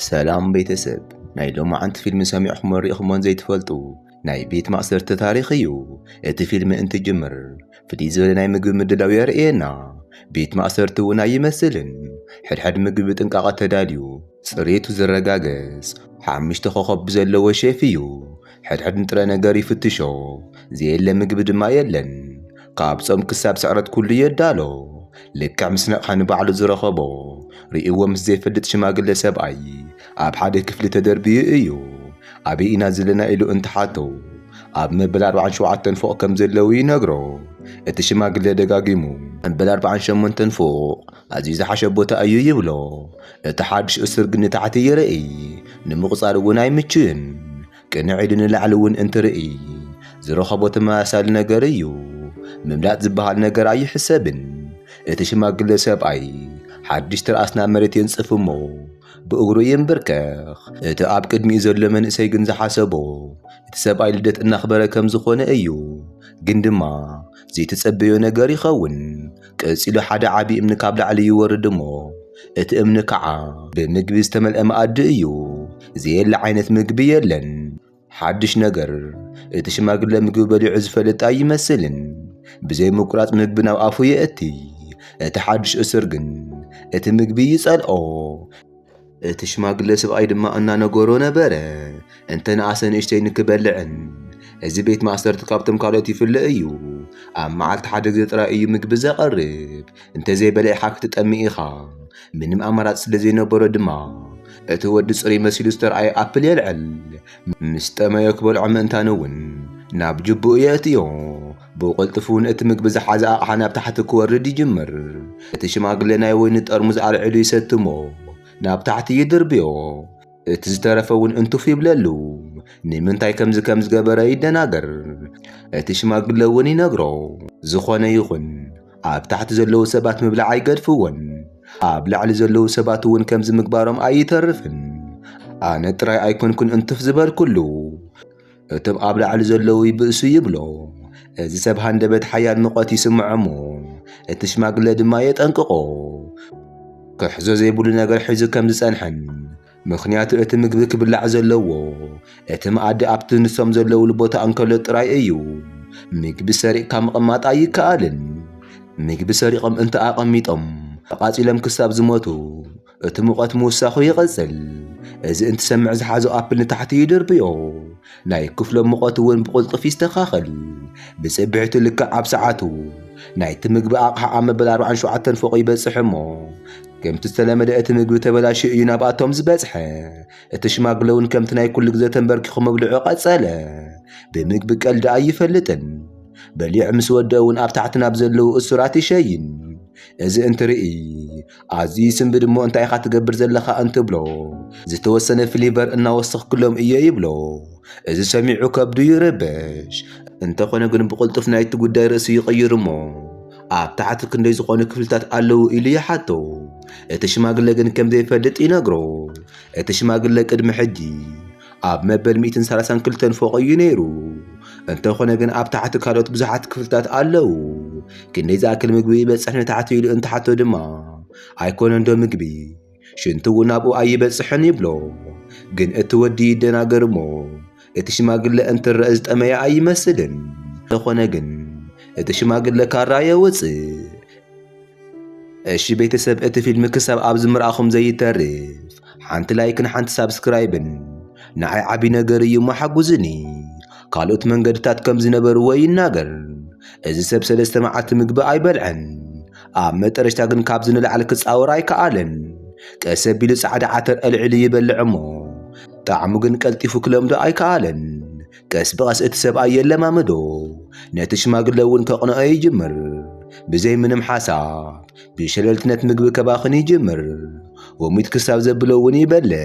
ሰላም ቤተሰብ ናይ ሎማዓንቲ ፊልሚ ሰሚዕኹሞን ርኢኹሞን ዘይትፈልጡ ናይ ቤት ማእሰርቲ ታሪኽ እዩ እቲ ፊልሚ እንትጅምር ፍልይ ዝበለ ናይ ምግቢ ምድላው የርእየና ቤት ማእሰርቲ እውን ኣይመስልን ሕድሕድ ምግቢ ብጥንቃቐ ተዳልዩ ፅሬቱ ዝረጋገፅ ሓሙሽተ ኮኸብ ብዘለዎ ሼፍ እዩ ሕድሕድ ንጥረ ነገር ይፍትሾ ዘየለ ምግቢ ድማ የለን ካብ ጾም ክሳብ ስዕረት ኩሉ የዳሎ ልክዕ ምስ ነቕሐ ንባዕሉ ዝረኸቦ ርእይዎ ምስ ዘይፈልጥ ሽማግለ ሰብኣይ ኣብ ሓደ ክፍሊ ተደርብዩ እዩ ኣበይ ኢና ዘለና ኢሉ እንትሓቶ ኣብ መበል ኣርባዓን ሸውዓተን ፎቕ ከም ዘለዉ ይነግሮ እቲ ሽማግለ ደጋጊሙ መበል ኣርባዓን ሸሞንተን ፎቕ ኣዝዩ ዝሓሸ ቦታ እዩ ይብሎ እቲ ሓድሽ እሱር ግን ንታሕቲ ይርኢ ንምቑጻር እውን ኣይምችእን ቅንዕ ኢሉ ንላዕሊ እውን እንትርእይ ዝረኸቦ ተመሳሳሊ ነገር እዩ። ምምላጥ ዝበሃል ነገር ኣይሕሰብን። እቲ ሽማግለ ሰብኣይ ሓድሽ ትርኣስ ናብ መሬት የንጽፍ እሞ ብእግሩ ይንብርከኽ። እቲ ኣብ ቅድሚኡ ዘሎ መንእሰይ ግን ዝሓሰቦ እቲ ሰብኣይ ልደት እናኽበረ ከም ዝኾነ እዩ። ግን ድማ ዘይተጸበዮ ነገር ይኸውን። ቀጺሉ ሓደ ዓቢ እምኒ ካብ ላዕሊ ይወርድ እሞ እቲ እምኒ ከዓ ብምግቢ ዝተመልአ መኣዲ እዩ። ዘየለ ዓይነት ምግቢ የለን። ሓድሽ ነገር እቲ ሽማግለ ምግቢ በሊዑ ዝፈልጥ ኣይመስልን። ብዘይ ምቁራጽ ምግቢ ናብ ኣፉ የእቲ። እቲ ሓድሽ እሱር ግን እቲ ምግቢ ይጸልኦ። እቲ ሽማግለ ስብኣይ ድማ እናነገሮ ነበረ እንተ ንኣሰ ንእሽተይ ንክበልዕን እዚ ቤት ማእሰርቲ ካብቶም ካልኦት ይፍለ እዩ ኣብ መዓልቲ ሓደ ግዜ ጥራይ እዩ ምግቢ ዘቐርብ እንተዘይበሊዕኻ ክትጠሚ ኢኻ ምንም ኣማራፂ ስለ ዘይነበሮ ድማ እቲ ወዲ ፅሩይ መሲሉ ዝተርኣየ ኣፕል የልዕል ምስ ጠመዮ ክበልዖ ምእንታን እውን ናብ ጅብኡ የእትዮ ብቕልጡፍ እውን እቲ ምግቢ ዝሓዘ ኣቕሓ ናብ ታሕቲ ክወርድ ይጅምር። እቲ ሽማግሌ ናይ ወይኒ ጠርሙዝ ኣልዒሉ ይሰቲ እሞ ናብ ታሕቲ ይድርብዮ። እቲ ዝተረፈ እውን እንትፍ ይብለሉ። ንምንታይ ከምዚ ከም ዝገበረ ይደናገር። እቲ ሽማግሌ እውን ይነግሮ። ዝኾነ ይኹን ኣብ ታሕቲ ዘለዉ ሰባት ምብላዕ ኣይገድፍዎን። ኣብ ላዕሊ ዘለዉ ሰባት እውን ከምዚ ምግባሮም ኣይተርፍን። ኣነ ጥራይ ኣይኮንኩን እንትፍ ዝበልኩሉ። እቶም ኣብ ላዕሊ ዘለዉ ይብእሱ ይብሎ። እዚ ሰብ ሃንደበት ሓያል ሙቐት ይስምዖ እሞ፣ እቲ ሽማግለ ድማ የጠንቅቖ። ክሕዞ ዘይብሉ ነገር ሒዙ ከም ዝጸንሐን፣ ምኽንያቱ እቲ ምግቢ ክብላዕ ዘለዎ፣ እቲ መኣዲ ኣብቲ ንሶም ዘለዉሉ ቦታ እንከሎ ጥራይ እዩ። ምግቢ ሰሪቕካ ምቕማጥ ኣይከኣልን። ምግቢ ሰሪቖም እንተ ኣቐሚጦም፣ ተቓጺሎም ክሳብ ዝሞቱ፣ እቲ ሙቐት ምውሳኹ ይቕጽል። እዚ እንትሰምዕ ዝሓዞ ኣፕል ንታሕቲ ይድርብዮ። ናይ ክፍሎም ሙቐት እውን ብቕልጡፍ ይስተኻኸል። ብጽብሒቱ ልክዕ ኣብ ሰዓቱ ናይቲ ምግቢ ኣቕሓ ኣብ መበል ኣርባዓን ሸውዓተን ፎቕ ይበጽሕ እሞ ከምቲ ዝተለመደ እቲ ምግቢ ተበላሽዩ እዩ ናብኣቶም ዝበጽሐ። እቲ ሽማግለ እውን ከምቲ ናይ ኩሉ ግዜ ተንበርኪኹ ምብልዑ ቀጸለ። ብምግቢ ቀልዲ ኣይፈልጥን። በሊዑ ምስ ወድአ እውን ኣብ ታሕቲ ናብ ዘለዉ እሱራት ይሸይን። እዚ እንትርኢ ኣዚ ስንብድ እሞ እንታይ ኢኻ ትገብር ዘለኻ እንትብሎ ዝተወሰነ ፍሊቨር እናወሰኽክሎም እየ ይብሎ። እዚ ሰሚዑ ከብዱ ይርበሽ። እንተኾነ ግን ብቕልጡፍ ናይቲ ጉዳይ ርእሲ ይቕይር እሞ ኣብ ታሕቲ ክንደይ ዝኾኑ ክፍልታት ኣለዉ ኢሉ ይሓቶ። እቲ ሽማግለ ግን ከም ዘይፈልጥ ይነግሮ። እቲ ሽማግለ ቅድሚ ሕጂ ኣብ መበል ሚእትን ሰላሳን ክልተን ፎቕ እዩ ነይሩ። እንተኾነ ግን ኣብ ታሕቲ ካልኦት ብዙሓት ክፍልታት ኣለዉ። ክንደይ ዝኣክል ምግቢ ይበጽሕ ንታሕቲ ኢሉ እንትሓቶ ድማ ኣይኮነን ዶ ምግቢ ሽንቲ እውን ኣብኡ ኣይበጽሕን ይብሎ። ግን እቲ ወዲ ይደናገር እሞ እቲ ሽማግለ እንትረአ ዝጠመየ ኣይመስልን። እንተኾነ ግን እቲ ሽማግለ ካራ የውጽእ። እሺ ቤተሰብ እቲ ፊልም ክሳብ ኣብዚ ምርኣኹም ዘይተርፍ ሓንቲ ላይክን ሓንቲ ሳብስክራይብን ንዓይ ዓቢ ነገር እዩ እሞ ሓጉዝኒ ካልኦት መንገድታት ከም ዝነበርዎ ይናገር እዚ ሰብ ሰለስተ መዓልቲ ምግቢ ኣይበልዐን ኣብ መጠረሽታ ግን ካብዚ ንላዕሊ ክጻወር ኣይከኣለን ቀስ ኣቢሉ ጻዕዳ ዓተር ኣልዒሉ ይበልዕ እሞ ጣዕሙ ግን ቀልጢፉ ክለምዶ ኣይከኣለን ቀስ ብቐስ እቲ ሰብኣይ የለማምዶ፣ ነቲ ሽማግለ እውን ከቕንኦ ይጅምር። ብዘይ ምንም ሓሳብ ብሸለልትነት ምግቢ ከባኽን ይጅምር። ወሚት ክሳብ ዘብሎ እውን ይበልዕ።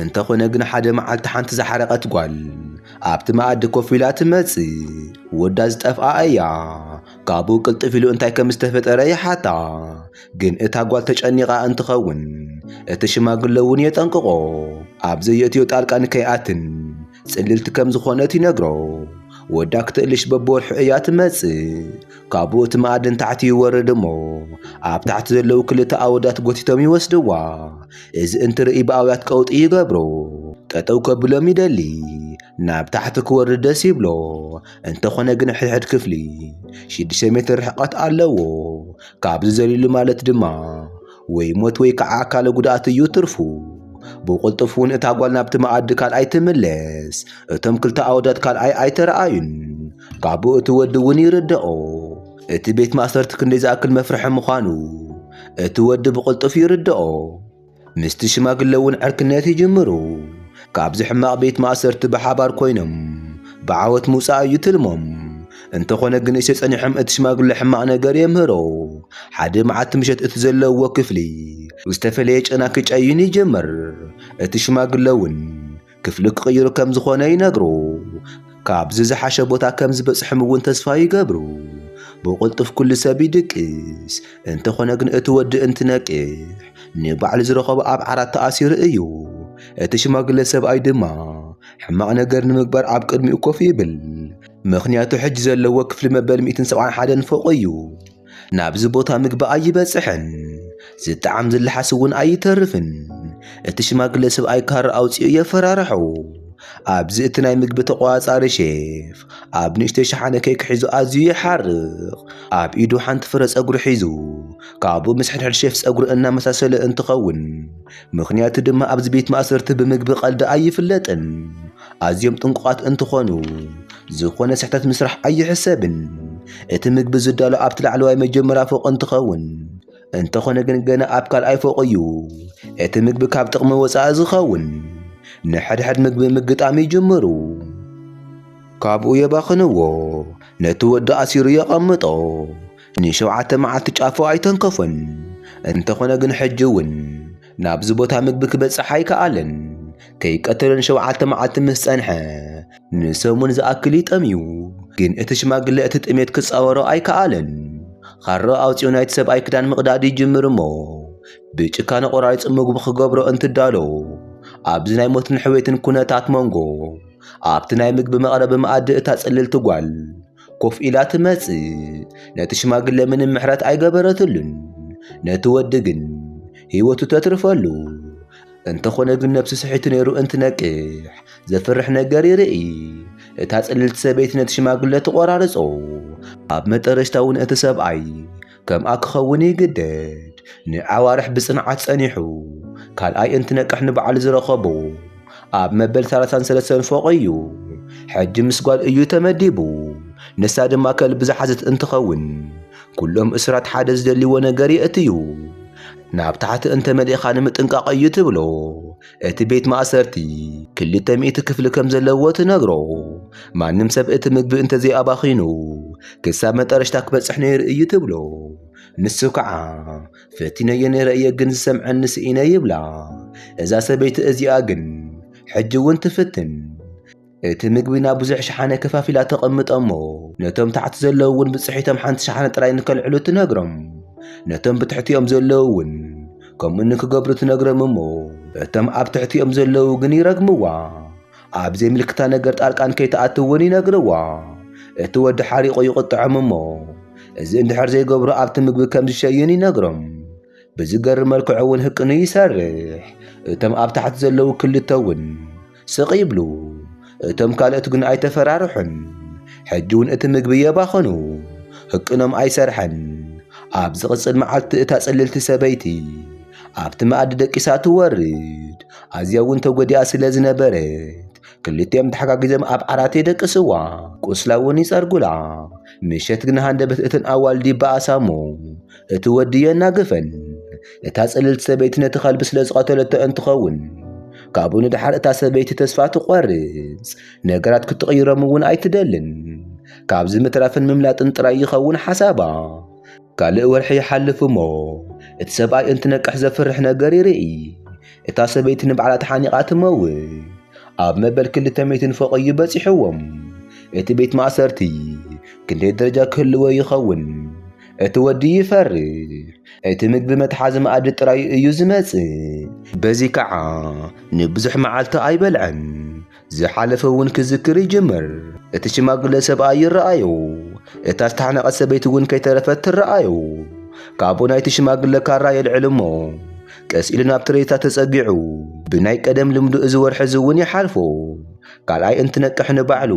እንተኾነ ግን ሓደ መዓልቲ ሓንቲ ዝሓረቐት ጓል ኣብቲ መኣዲ ኮፍ ኢላ ትመጽእ። ወዳ ዝጠፍኣ እያ። ካብኡ ቅልጥፍ ኢሉ እንታይ ከም ዝተፈጠረ ይሓታ። ግን እታ ጓል ተጨኒቓ እንትኸውን እቲ ሽማግለ እውን የጠንቅቖ ኣብ ዘየእትዮ ጣልቃ ንከይኣትን ጽልልቲ ከም ዝኾነት ይነግሮ። ወዳ ክትእልሽ በብወርሑ እያ ትመጽእ። ካብኡ እቲ መኣዲ ንታሕቲ ይወርድ እሞ ኣብ ታሕቲ ዘለዉ ክልተ ኣወዳት ጎቲቶም ይወስድዋ። እዚ እንትርኢ ብኣውያት ቀውጢ ይገብሮ። ጠጠው ከብሎም ይደሊ። ናብ ታሕቲ ክወርድ ደስ ይብሎ። እንተኾነ ግን ሕድሕድ ክፍሊ ሽዱሽተ ሜትር ርሕቐት ኣለዎ። ካብዚ ዘሊሉ ማለት ድማ ወይ ሞት ወይ ከዓ ኣካለ ጉድኣት እዩ ትርፉ። ብቕልጡፍ እውን እታ ጓል ናብቲ መኣዲ ካልኣይ ትምለስ። እቶም ክልተ ኣወዳት ካልኣይ ኣይተረኣዩን። ካብኡ እቲ ወዲ እውን ይርደኦ። እቲ ቤት ማእሰርቲ ክንደይ ዝኣክል መፍርሒ ምዃኑ እቲ ወዲ ብቕልጡፍ ይርደኦ። ምስቲ ሽማግለ እውን ዕርክነት ይጅምሩ። ካብዚ ሕማቕ ቤት ማእሰርቲ ብሓባር ኮይኖም ብዓወት ምውጻእ እዩ ትልሞም። እንተኾነ ግን ንእሽተይ ጸኒሖም እቲ ሽማግለ ሕማቕ ነገር የምህሮ። ሓደ መዓልቲ ምሸት እቲ ዘለውዎ ክፍሊ ብዝተፈለየ ጨና ክጨይን ይጅምር። እቲ ሽማግለ እውን ክፍሊ ክቕይሩ ከም ዝኾነ ይነግሩ። ካብዚ ዝሓሸ ቦታ ከም ዝበጽሕም እውን ተስፋ ይገብሩ። ብቕልጡፍ ኩሉ ሰብ ይድቅስ። እንተኾነ ግን እቲ ወዲ እንትነቅሕ ንባዕሉ ዝረኸቦ ኣብ ዓራት ተኣሲሩ እዩ። እቲ ሽማግለ ሰብኣይ ድማ ሕማቕ ነገር ንምግባር ኣብ ቅድሚኡ ኮፍ ይብል። ምኽንያቱ ሕጂ ዘለዎ ክፍሊ መበል ሚእትን ሰብዓን ሓደን ፎቕ እዩ። ናብዚ ቦታ ምግቢ ኣይበጽሕን፣ ዝጠዓም ዝለሓስ እውን ኣይተርፍን። እቲ ሽማግለ ሰብኣይ ካራ ኣውጺኡ የፈራርሖ። ኣብዚ እቲ ናይ ምግቢ ተቖጻጻሪ ሼፍ ኣብ ንእሽተይ ሸሓነ ኬክ ሒዙ ኣዝዩ ይሓርቕ። ኣብ ኢዱ ሓንቲ ፍረ ጸጉሪ ሒዙ ካብኡ ምስ ሕድሕድ ሼፍ ጸጉሪ እናመሳሰለ እንትኸውን ምኽንያቱ ድማ ኣብዚ ቤት ማእሰርቲ ብምግቢ ቀልዲ ኣይፍለጥን። ኣዝዮም ጥንቁቓት እንትኾኑ ዝኾነ ስሕተት ምስራሕ ኣይሕሰብን። እቲ ምግቢ ዝዳሎ ኣብቲ ላዕለዋይ መጀመርያ ፎቕ እንትኸውን፣ እንተኾነ ግን ገና ኣብ ካልኣይ ፎቕ እዩ እቲ ምግቢ ካብ ጥቕሚ ወጻኢ ዝኸውን። ንሕድሕድ ምግቢ ምግጣም ይጅምሩ። ካብኡ የባኽንዎ። ነቲ ወዲ ኣሲሩ የቐምጦ። ንሸውዓተ መዓልቲ ጫፉ ኣይተንከፎን። እንተኾነ ግን ሕጂ'ውን ናብዚ ቦታ ምግቢ ክበጽሕ ኣይከኣለን። ከይቀተሎ ንሸውዓተ መዓልቲ ምስ ጸንሐ ንሰሙን ዝኣክል እዩ ጠምዩ። ግን እቲ ሽማግለ እቲ ጥሜት ክጻወሮ ኣይከኣለን። ኻራ ኣውጺኡ ናይቲ ሰብኣይ ክዳን ምቕዳድ ይጅምር እሞ ብጭካነ ቆራሪጹ ምግቡ ክገብሮ እንትዳሎ ኣብዚ ናይ ሞትን ሕውየትን ኩነታት መንጎ ኣብቲ ናይ ምግቢ መቕረቢ መኣዲ እታ ጽልልቲ ጓል ኮፍ ኢላ ትመጽእ። ነቲ ሽማግለ ምንም ምሕረት ኣይገበረትሉን። ነቲ ወዲ ግን ህይወቱ ተትርፈሉ። እንተኾነ ግን ነብሱ ስሒቱ ነይሩ እንትነቅሕ ዘፍርሕ ነገር ይርኢ። እታ ጽልልቲ ሰበይቲ ነቲ ሽማግለ ትቖራርጾ። ኣብ መጠረሽታ እውን እቲ ሰብኣይ ከምኣ ክኸውን ይግደድ። ንኣዋርሕ ብጽንዓት ጸኒሑ፣ ካልኣይ እንትነቅሕ ንበዓል ዝረኸቦ ኣብ መበል ሰላሳን ሰለስተን ፎቕ እዩ። ሕጂ ምስ ጓል እዩ ተመዲቡ፣ ንሳ ድማ ከልቢ ዝሓዘት እንትኸውን፣ ኩሎም እሱራት ሓደ ዝደልይዎ ነገር የእትዩ። ናብ ታሕቲ እንተመሊእካ ንምጥንቃቕ እዩ ትብሎ። እቲ ቤት ማእሰርቲ ክልተ ሚእቲ ክፍሊ ከም ዘለዎ ትነግሮ። ማንም ሰብ እቲ ምግቢ እንተዘይ ኣባኺኑ ክሳብ መጠረሽታ ክበጽሕ ነይሩ እዩ ትብሎ። ንሱ ከዓ ፈቲነዮ ነይረ እየ ግን ዝሰምዐኒ ስኢነ ይብላ። እዛ ሰበይቲ እዚኣ ግን ሕጂ እውን ትፍትን። እቲ ምግቢ ናብ ብዙሕ ሸሓነ ከፋፊላ ተቐምጦ እሞ ነቶም ታሕቲ ዘለዉ እውን ብፅሒቶም ሓንቲ ሸሓነ ጥራይ ንከልዕሉ ትነግሮም። ነቶም ብትሕቲኦም ዘለዉ እውን ከምኡ ንክገብሩ ትነግሮም እሞ እቶም ኣብ ትሕቲኦም ዘለዉ ግን ይረግምዋ። ኣብ ዘይምልክታ ነገር ጣልቃ ንከይትኣቱ እውን ይነግርዋ። እቲ ወዲ ሓሪቑ ይቕጥዖም እሞ እዚ እንድሕር ዘይገብሩ ኣብቲ ምግቢ ከም ዝሸዩን ይነግሮም። ብዝገርም መልክዑ እውን ህቅኑ ይሰርሕ። እቶም ኣብ ታሕቲ ዘለዉ ክልተ እውን ስቕ ይብሉ፣ እቶም ካልኦት ግን ኣይተፈራርሑን፣ ሕጂ እውን እቲ ምግቢ የባኸኑ፣ ህቅኖም ኣይሰርሐን። ኣብ ዝቕጽል መዓልቲ እታ ጽልልቲ ሰበይቲ ኣብቲ መኣዲ ደቂሳ ትወርድ፣ ኣዝያ እውን ተጐዲኣ ስለ ዝነበረት ክልቲኦም ተሓጋጊዞም ኣብ ዓራት የደቅስዋ፣ ቁስላ እውን ይጸርጉላ። ምሸት ግን ሃንደበት እተን ኣዋልድ ይበኣሳ እሞ እቲ ወዲ የናግፈን። እታ ጽልልቲ ሰበይቲ ነቲ ከልቢ ስለ ዝቐተለቶ እንትኸውን ካብኡ ንድሓር እታ ሰበይቲ ተስፋ ትቖርጽ፣ ነገራት ክትቕይሮም እውን ኣይትደልን። ካብዚ ምትራፍን ምምላጥን ጥራይ ይኸውን ሓሳባ። ካልእ ወርሒ ይሓልፍ እሞ እቲ ሰብኣይ እንትነቅሕ ዘፍርሕ ነገር ይርኢ። እታ ሰበይቲ ንባዕላ ተሓኒቓ ትመውት። ኣብ መበል ክልተ ሚእትን ፎቕ እዩ በጺሕዎም። እቲ ቤት ማእሰርቲ ክንደይ ደረጃ ክህልዎ ይኸውን? እቲ ወዲ ይፈርሕ፣ እቲ ምግቢ መትሓዚ መኣዲ ጥራይ እዩ ዝመጽእ። በዚ ከኣ ንብዙሕ መዓልቲ ኣይበልዐን፣ ዝሓለፈ እውን ክዝክር ይጅምር። እቲ ሽማግለ ሰብኣይ ይረኣዮ፣ እታ ዝተሓነቐት ሰበይቲ እውን ከይተረፈት ትረኣዮ። ካብኡ ናይቲ ሽማግለ ካራ የልዕል እሞ ቀስ ኢሉ ናብ ትሬዛ ተጸጊዑ ብናይ ቀደም ልምዱ እዚ ወርሒ እዚ እውን ይሓልፎ። ካልኣይ እንትነቅሕ ንባዕሉ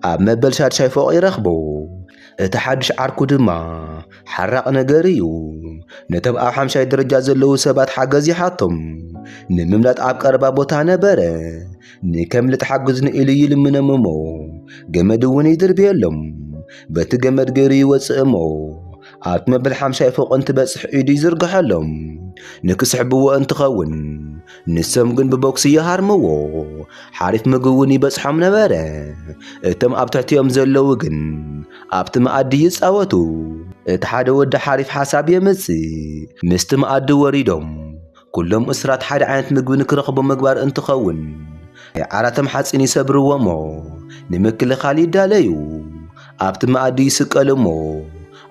ኣብ መበል ሻድሻይ ፎቕ ይረኽቦ። እቲ ሓድሽ ዓርኩ ድማ ሓራቕ ነገር እዩ። ነቶም ኣብ ሓምሻይ ደረጃ ዘለዉ ሰባት ሓገዝ ይሓቶም። ንምምላጥ ኣብ ቀረባ ቦታ ነበረ። ንከምልጥ ሓግዝኒ ኢሉ ይልምኖም እሞ ገመድ እውን ይድርብየሎም። በቲ ገመድ ገይሩ ይወጽእ እሞ ኣብቲ መበል ሓምሻይ ፎቕ እንትበጽሕ ኢዱ ይዝርግሐሎም። ንክስሕብዎ እንትኸውን ንሶም ግን ብቦክሲ ይሃርምዎ፣ ሓሪፍ ምግቢ እውን ይበጽሖም ነበረ። እቶም ኣብ ትሕቲኦም ዘለዉ ግን ኣብቲ መኣዲ ይጻወቱ። እቲ ሓደ ወዲ ሓሪፍ ሓሳብ የምጽእ፣ ምስቲ መኣዲ ወሪዶም ኩሎም እሱራት ሓደ ዓይነት ምግቢ ንክረኽቡ ምግባር እንትኸውን፣ ናይ ዓራቶም ሓጺን ይሰብርዎ እሞ ንምክልኻል ይዳለዩ። ኣብቲ መኣዲ ይስቀሉ እሞ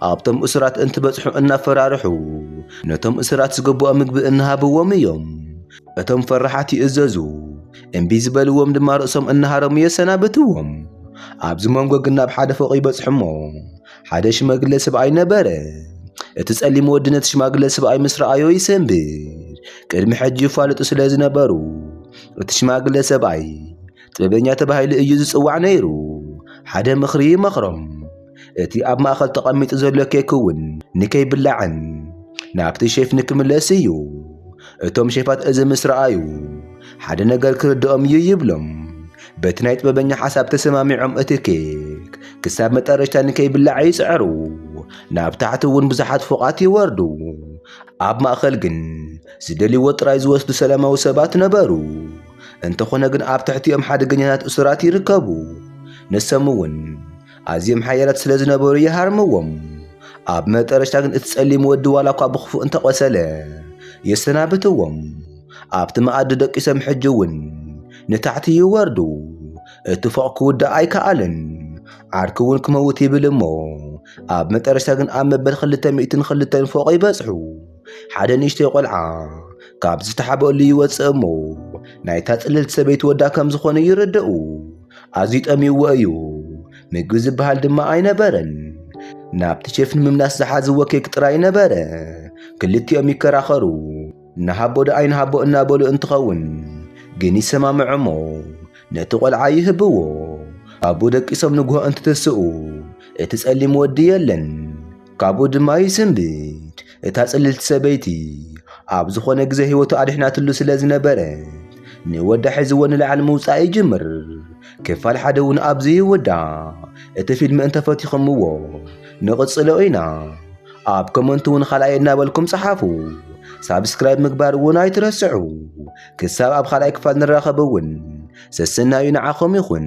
ኣብቶም እሱራት እንትበጽሑ እናፈራርሑ ነቶም እሱራት ዝግብኦ ምግቢ እናሃብዎም እዮም። እቶም ፈራሓት ይእዘዙ፣ እምቢ ዝበልዎም ድማ ርእሶም እናሃረሙ የሰናብትዎም። ኣብዚ መንጎ ግን ናብ ሓደ ፎቕ ይበጽሑ እሞ ሓደ ሽማግለ ስብኣይ ነበረ። እቲ ጸሊም ወዲ ነቲ ሽማግለ ስብኣይ ምስ ረኣዮ ይሰንብድ። ቅድሚ ሕጂ ይፋለጡ ስለ ዝነበሩ እቲ ሽማግለ ሰብኣይ ጥበበኛ ተባሂሉ እዩ ዝጽዋዕ ነይሩ። ሓደ ምኽሪ ይመኽሮም፣ እቲ ኣብ ማእከል ተቐሚጡ ዘሎ ኬክ እውን ንከይብላዕን ናብቲ ሼፍ ንክምለስ እዩ። እቶም ሼፋት እዚ ምስ ረኣዩ ሓደ ነገር ክርድኦም እዩ ይብሎም። በቲ ናይ ጥበበኛ ሓሳብ ተሰማሚዖም እቲ ኬክ ክሳብ መጠረሽታ ንከይብላዕ ይጽዕሩ። ናብ ታሕቲ እውን ብዙሓት ፎቓት ይወርዱ። ኣብ ማእከል ግን ዝደልይዎ ጥራይ ዝወስዱ ሰላማዊ ሰባት ነበሩ። እንተኾነ ግን ኣብ ትሕቲኦም ሓደገኛታት እሱራት ይርከቡ። ንሶም እውን ኣዝዮም ሓያላት ስለ ዝነበሩ ይሃርምዎም። ኣብ መጠረሽታ ግን እቲ ጸሊም ወዲ ዋላ እኳ ብኽፉእ እንተ ቖሰለ የሰናብትዎም። ኣብቲ መኣዲ ደቂሶም ሕጂ እውን ንታሕቲ ይወርዱ። እቲ ፎቕ ክውዳእ ኣይከኣለን። ዓርኩ እውን ክመውት ይብል እሞ ኣብ መጠረሽታ ግን ኣብ መበል ክልተ ሚእትን ክልተን ፎቕ ይበጽሑ። ሓደ ንእሽተይ ቆልዓ ካብ ዝተሓበሉ ይወፅእ እሞ ናይታ ፅልልቲ ሰበይቲ ወዳ ከም ዝኾነ ይርደኡ ኣዝዩ ጠሚዎ እዩ ምግቢ ዝበሃል ድማ ኣይነበረን ናብቲ ሼፍ ንምምላስ ዝሓዝዎ ኬክ ጥራይ ነበረ ክልቲኦም ይከራኸሩ ንሃቦ ዶ ኣይንሃቦ እናበሉ እንትኸውን ግን ይሰማምዑ እሞ ነቲ ቆልዓ ይህብዎ ኣቡ ደቂሶም ንግሆ እንትትስኡ እቲ ጸሊም ወዲ የለን ካብኡ ድማ ይስንብድ። እታ ጽልልቲ ሰበይቲ ኣብ ዝኾነ ግዜ ህይወቱ ኣድሕናትሉ ስለ ዝነበረት ንወዳ ሒዝዎ ንላዕሊ ምውጻእ ይጅምር። ክፋል ሓደ እውን ኣብዚ ይውዳእ። እቲ ፊልሚ እንተፈቲኹምዎ ንቕጽሎ ኢና። ኣብ ኮመንት እውን ካልኣይ እናበልኩም ጸሓፉ። ሳብስክራይብ ምግባር እውን ኣይትረስዑ። ክሳብ ኣብ ካልኣይ ክፋል ንራኸብ እውን ሰሰናዩ ንዓኹም ይኹን።